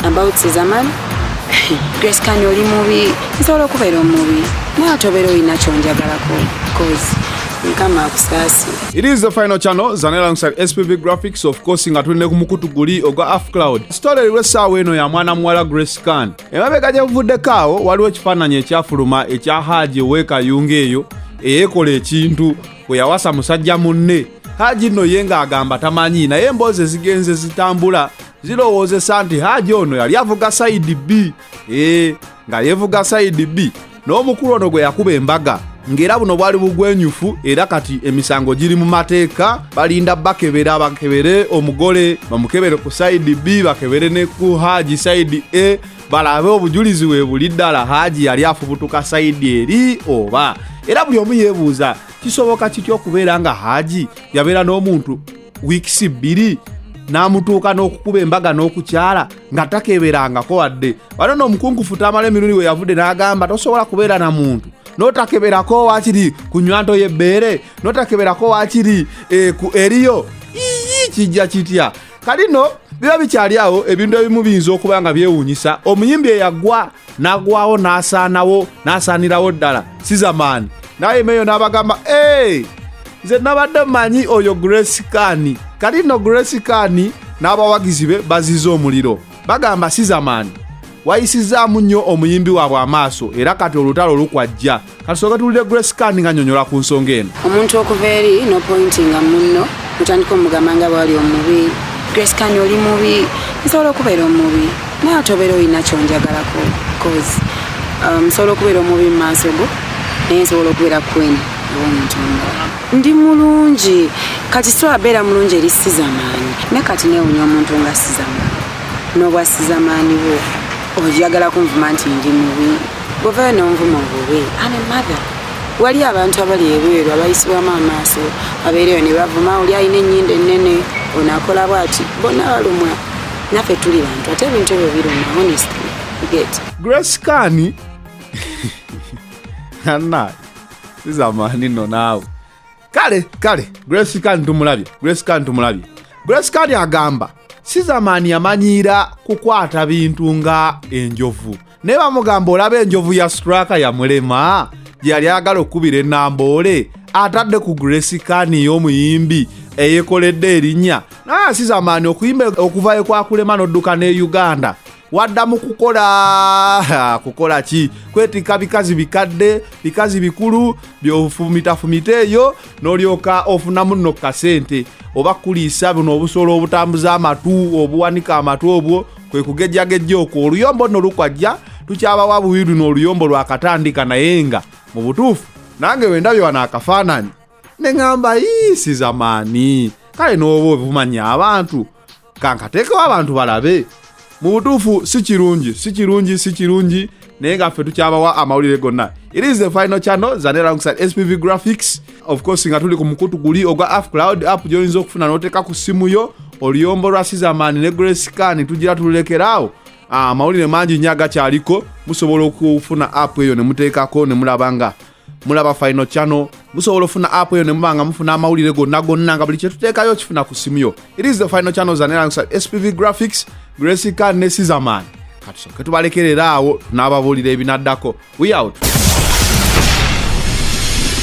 about Zaman Grace Kani oli mubi nsobola okubeera omubi naye ate obeera olina kyonjagalako cause mukama akusaasi it is the final channel zane alongside spv graphics of course nga tuli ne ku mukutu guli ogwa afcloud sitole eriwo essaawa eno ya mwana muwala grace kan emabega gye buvuddeko awo waliwo ekifaananyi ekyafuluma ekya haaji ow'ekayunga eyo eyekola ekintu bwe yawasa musajja munne haji nno ye ng'agamba tamanyi naye emboozi ezigenze zitambula zirowoozesa nti haji ono yali avuga sayidi bbi ee nga yevuga sayidi bbi n'omukulu ono gwe yakuba embaga ng'era buno bwali bugwenyufu era kati emisango giri mu mateeka balinda bakebera bakebere omugole bamukebere ku sayidi bbi bakebere ne ku haji sayidi e balabe obujulizi weebuli ddala haaji yali afubutuka sayidi eri oba era buli omu yeebuuza kisoboka kitya okubeera nga haaji yabeera n'omuntu wiikisi bbiri n'amutuuka n'okukuba embaga n'okukyala nga takeberangako wadde wano n'omukungufu tamala emirundi we yavudde n'agamba tosobola kubeera na muntu notakeberako wakiri ku nywanto y'ebbeere notakeberako wakiri eh, eriyo kijja kitya kalino biba bikyali awo ebintu ebimu biyinza okuba nga byewuunyisa omuyimbi eyagwa n'agwawo n'asaanawo n'asaanirawo ddala sizamaani naye meyo n'abagamba e nze nabadde manyi oyo grace kani kali no grace kani n'abawagizi be baziza omuliro bagamba sizamaani wayisizaamu nnyo omuyimbi waabwe amaaso era kati olutalo lukwajja kati soka tuwulire grace kan nga nyonyola ku nsonga eno omuntu okuva eri no pointinga munno mutandika omugamba nga bwali omubi grace kan oli mubi nsobola okubeera omubi naye ate obeera olina kyonjagalako bcause um, nsobola okubeera omubi mu maaso go naye nsobola okubeera queen owomuntu omulala ndi mulungi kati sobola beera mulungi eri sizamaanyi ne kati newunya omuntu nga sizamaanyi n'obwa sizamaanyi bwo ojagala kunvuma nti ndi mubi Bw'ovaayo n'onvuma obubi, I'm a mother. Wali abantu abali ebweru abayisibwamu amaaso abeereyo ne bavuma oli alina ennyindo ennene ono akola bw'ati bonna balumwa naffe tuli bantu ate ebintu ebyo biruma honestly get Grace Kani anna zizamaani no naawe kale kale Grace Kani tumulabye Grace Kani tumulabye Grace Kani agamba sizamaani yamanyiira kukwata bintu nga enjovu naye bamugamba olaba enjovu ya straka yamulema gyeyali agala okukubira enamboole atadde ku grace kani y'omuyimbi eyekoledde erinnya naye asiza amaani okuyimba okuvayo kwakulema n'odduka ne uganda wadda mu kukola kukola ki kwetikka bikazi bikadde bikazi bikulu byofumitafumita eyo n'olyoka ofunamu nno ku kasente oba kuliisa buno obusolo obutambuza amatu obuwanika amatu obwo kwe kugejjagejja okwo oluyombo nno lukwajja tukyabawa buwi luno oluyombo lwakatandika naye nga mu butuufu nange wendabye wano akafaananyi ne ŋamba yiisi zamaani kale n'oba ovumanya abantu kankateekewo abantu balabe mu butuufu si kirungi si kirungi si kirungi naye nga ffe tukyabawa amawulire gonna it is the final channel zane alongside spv graphics of course nga tuli ku mukutu guli ogwa af cloud app gyoyinza okufuna noteeka ku simu yo oluyombo lwa sizaman ne grescan tugira tululekeraawo ah, amawulire mangi nyo agakyaliko musobola okufuna app eyo nemuteekako nemulaba nga mulaba final channel musobola ofuna app eyo nemuba nga mufuna amawulire gonna gonna nga buli kyetuteekayo kifuna ku simu yo it is the final channels anelangusa spv graphics gresica ne sizaman katusoke tubalekerera awo n'ababuulira ebinaddako we out